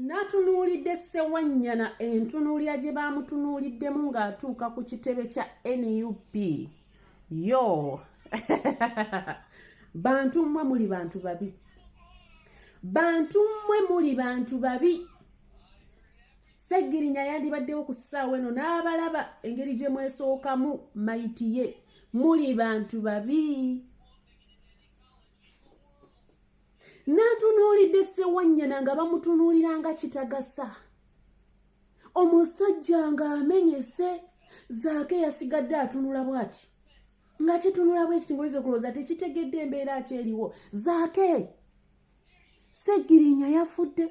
Natunuulidde Ssewanyana entunuulira gye baamutunuuliddemu ng'atuuka ku kitebe kya nup yo bantu mmwe muli bantu babi bantu mmwe muli bantu babi seggirinya yandibaddewo ku ssaawa eno n'abalaba engeri gye mwesookamu mayitiye muli bantu babi n'atunuulidde ssewanyana nga bamutunuulira nga kitagasa omusajja ng'amenyese zaake yasigadde atunula bwati nga kitunula bwekiti ngoyinza okulowooza tekitegedde embeera akyeriwo zaake segirinya yafudde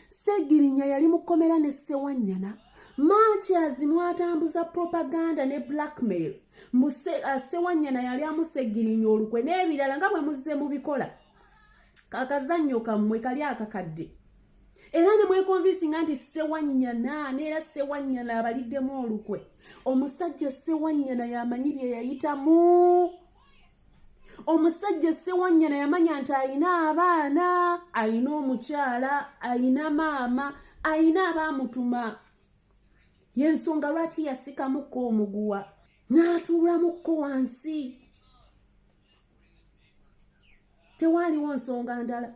segirinya yali mukomera ne sewanyana mankyas mwatambuza propaganda ne blackmail muse uh, sewanyana yali amusegirinya olukwe n'ebirala nga bwe muzze mubikola kakazannyo kammwe kali akakadde era ne mwekonvinsinga nti sewanyana neera sewanyana abaliddemu olukwe omusajja sewanyana yamanyi bye yayitamu omusajja sewanyana yamanya nti alina abaana alina omukyala alina maama alina abaamutuma yensonga lwaki yasikamukko omuguwa n'atuulamukko wansi tewaaliwo nsonga ndala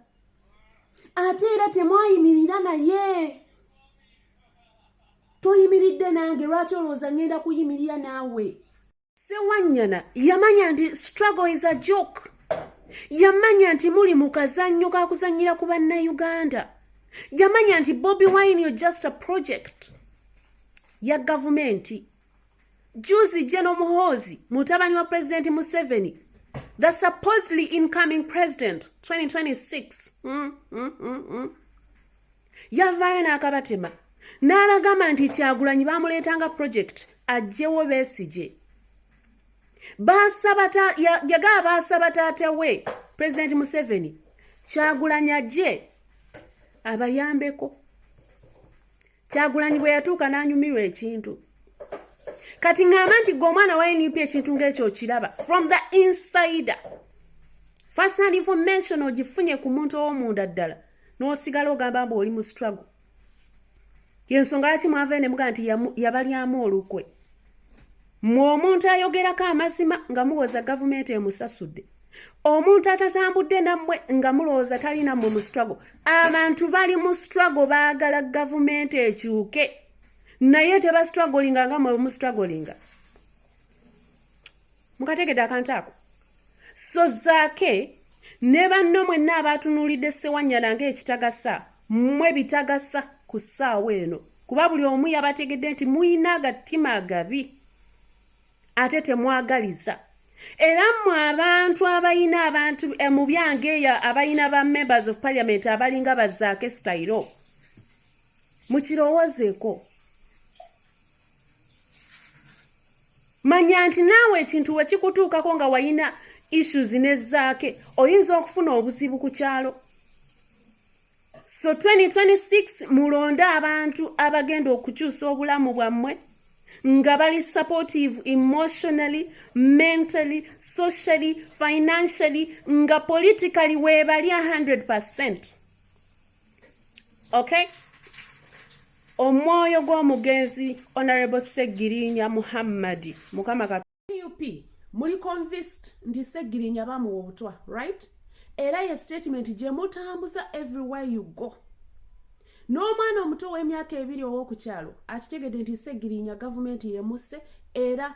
ate era temwayimirira naye toyimiridde nange lwaki olowooza ngenda kuyimirira naawe Sewanyana yamanya nti struggle is a joke. Yamanya nti muli mu kazannyo ka kuzannyira ku bannayuganda. Yamanya nti Bobi Wine yo just a project ya gavumenti. Juzi General Muhoozi mutabani wa Pulezidenti Museveni the supposedly incoming president 2026 mm, mm, mm, mm. yavaayo n'akabatema n'abagamba nti kyagulanyi bamuleetanga project ajjewo besigye yagaa baasaba taata we pulezidenti museveni kyagulanyi ajje abayambeko kyagulanyi bwe yatuuka n'anyumirwa ekintu kati ŋŋamba nti gwe omwana wa nup ekintu ng'ekyo okiraba from the insider first hand information ogifunye ku muntu ow'omunda ddala n'osigala ogamba mbu oli mu struggle yensonga lwaki mwavayo ne mugaa nti yabalyamu olukwe mwe omuntu ayogerako amazima nga muwoza gavumenti emusasudde omuntu atatambudde nammwe nga mulowooza tali nammwe mu struggle abantu bali mu struggle baagala gavumenti ekyuke naye tebastragolinga nga mwe mustragolinga mukategede akantu ako so zaake ne banno mwenna abaatunuulidde ssewanyana ng'ekitagasa mmwe bitagasa ku ssaawa eno kuba buli omu yabategedde nti muyina agatima agabi ate temwagaliza era mmwe abantu abayina abantu eh, mu byange eyo abayina ba members of parliament abalinga bazaake sitayiro mukirowoozeeko manya nti naawe ekintu we kikutuukako nga wayina issues ne zaake oyinza okufuna obuzibu ku kyalo so 2026 mulonde abantu abagenda okukyusa obulamu bwammwe nga bali supportive emotionally mentally socially financially nga politically webali 100 okay omwoyo gw'omugenzi honorable segirinya muhammadi mukama nup muli convist nti segirinya bamuwa obutwa right era ye statement gye mutambuza everywhere you go n'omwana omuto w'emyaka ebiri ow'okukyalo akitegedde nti segirinya gavumenti yemuse era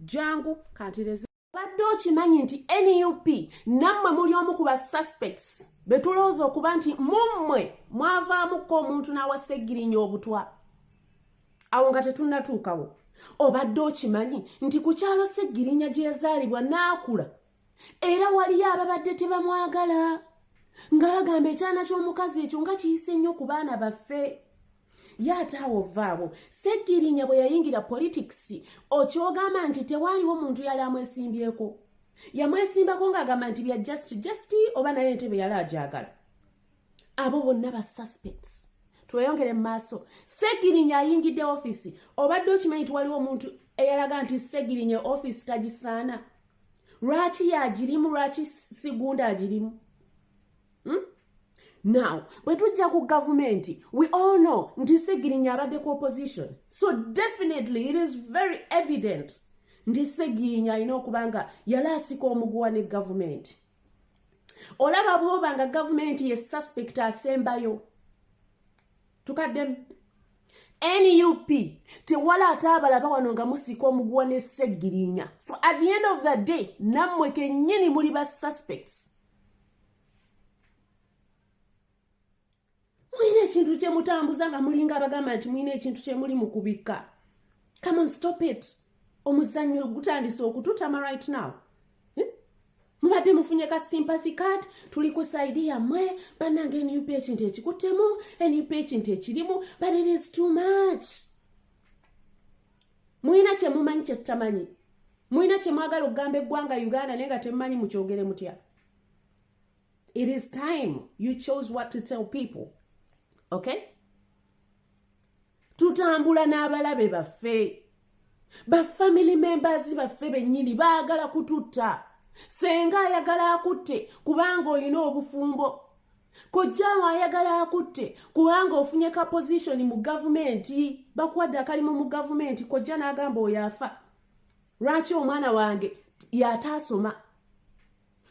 jangu kantireze obadde okimanyi nti nup nammwe muli omu ku ba suspects betulowooza okuba nti mummwe mwavaamukko omuntu n'awaseggirinya obutwa awo nga tetunnatuukawo obadde okimanyi nti ku kyalo seggirinya gye yazaalibwa n'akula era waliyo ababadde tebamwagala nga bagamba ekyana ky'omukazi ekyo nga kiyise nnyo ku baana baffe ye ate awo vaawo segirinya bwe yayingira politics okyogamba nti tewaaliwo muntu yali amwesimbyeko yamwesimbako ng'agamba nti bya just just oba naye entebe yali agyagala abo bonna ba suspects tweyongere mu maaso segirinya ayingidde ofiisi obadde okimanyi nti waliwo omuntu eyalaga nti segirinya ofiisi tagisaana lwaki yagirimu lwaki sigunda agirimu hmm? now bwe tujja ku gavumenti we all know nti segirinya abadde ku opposition so definitely it is very evident nti segirinya alina okuba nga yali asika omuguwa ne gavumenti olaba bwoba nga gavumenti ye suspect asembayo tukaddemu nup tewala ate abalaba wano nga musiika omuguwa ne seggirinya so at the end of the day nammwe kennyini muli ba suspects mulina ekintu kyemutambuza nga mulinga abagamba nti mulina ekintu kyemuli mu kubikka come on stop it omuzannyo gutandise okututama right now mubadde mufunye ka sympathy card tuli ku saidi yammwe bannange nup ekintu ekikuttemu nup ekintu ekirimu but it is too much mulina kyemumanyi kyetutamanyi mulina kyemwagala okugamba eggwanga uganda naye nga temumanyi mukyogere mutya it is time you chose what to tell people okay tutambula n'abalabe baffe bafamily members baffe bennyini baagala kututta senga ayagala akutte kubanga olina obufumbo kojjaawo ayagala akutte kubanga ofunye ka pozishoni mu gavumenti bakuwadde akalimu mu gavumenti kojja n'agamba oyo afa lwaki omwana wange yataasoma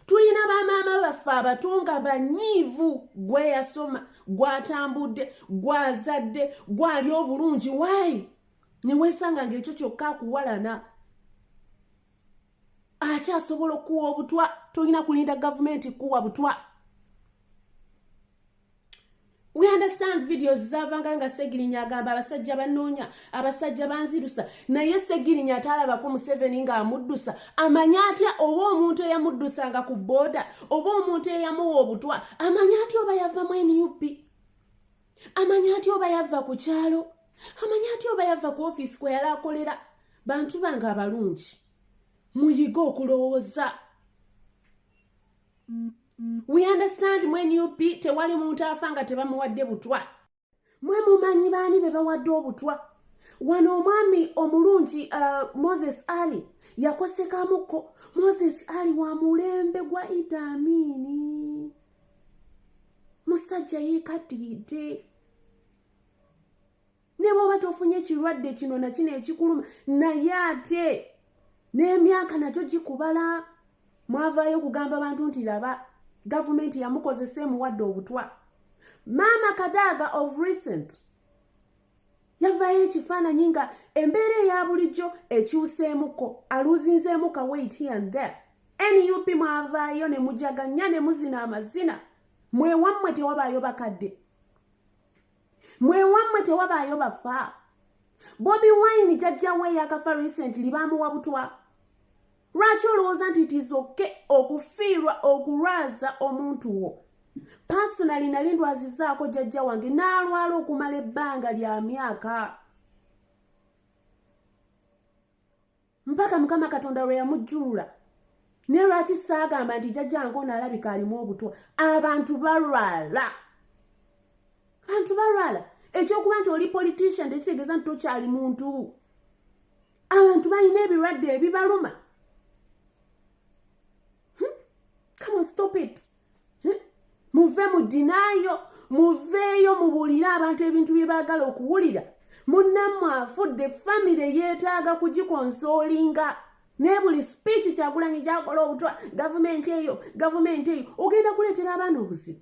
tulina bamaama baffe abato nga banyiivu gweyasoma gwatambudde gwazadde gwali obulungi waayi newesanga ngaekyo kyokka akuwalana akyasobola okuwa obutwa tolina kulinda gavumenti kuwa butwa we understand videos zavanga nga segirinya agamba abasajja banoonya abasajja banzirusa naye segirinya atalabako museveni nga amuddusa amanya atya oba omuntu eyamuddusanga ku booda oba omuntu eyamuwa obutwa amanya atya oba yava mu nup amanya atya oba yava ku kyalo amanya atya oba yava ku ofiisi kwe yali akolera bantu bange abalungi muyige okulowooza we understand mu nup tewali muntu afa nga tebamuwadde butwa mwe mumanyi baani be bawadde obutwa wano omwami omulungi uh, moses ali yakosekamukko moses ali wa mulembe gwa idamiini musajja yekaddiridde ne bwoba tofunye kirwadde kino nakino ekikuluma naye ate n'emyaka nakyo gikubala mwavaayo okugamba abantu nti laba gavumenti yamukozesa emuwadde obutwa maama kadaaga of recent yavaayo ekifaananyi nga embeera eya bulijjo ekyuseemuko aluzinzeemu ka wait here and there nup mwavaayo ne mujaganya ne muzina amazina mwewammwe tewabaayo bakadde mwewammwe tewabaayo bafa bobi wine jajjawe yakafa recently baamuwa butwa lwaki olowooza nti tizoke okufiirwa okulwaza omuntu wo paasonali nali ndwazizaako jajja wange n'alwala okumala ebbanga lya myaka mpaka mukama katonda lwe yamujjulula ne lwaki saagamba nti jajjange ono alabika alimu obutwa abantu balwala bantu balwala ekyokuba nti oli politician tekitegeeza nti tokyali muntu abantu balina ebirwadde ebibaluma hmm? come on stop it hmm? muve mu dinaayo muveeyo mubuulire abantu ebintu bye baagala okuwulira munnammwe afudde famire yeetaaga kugikonsoolinga naye buli sipiiki kyagulanyi gyakola obutwa gavumenti eyo gavumenti eyo ogenda kuleetera abaana obuzibu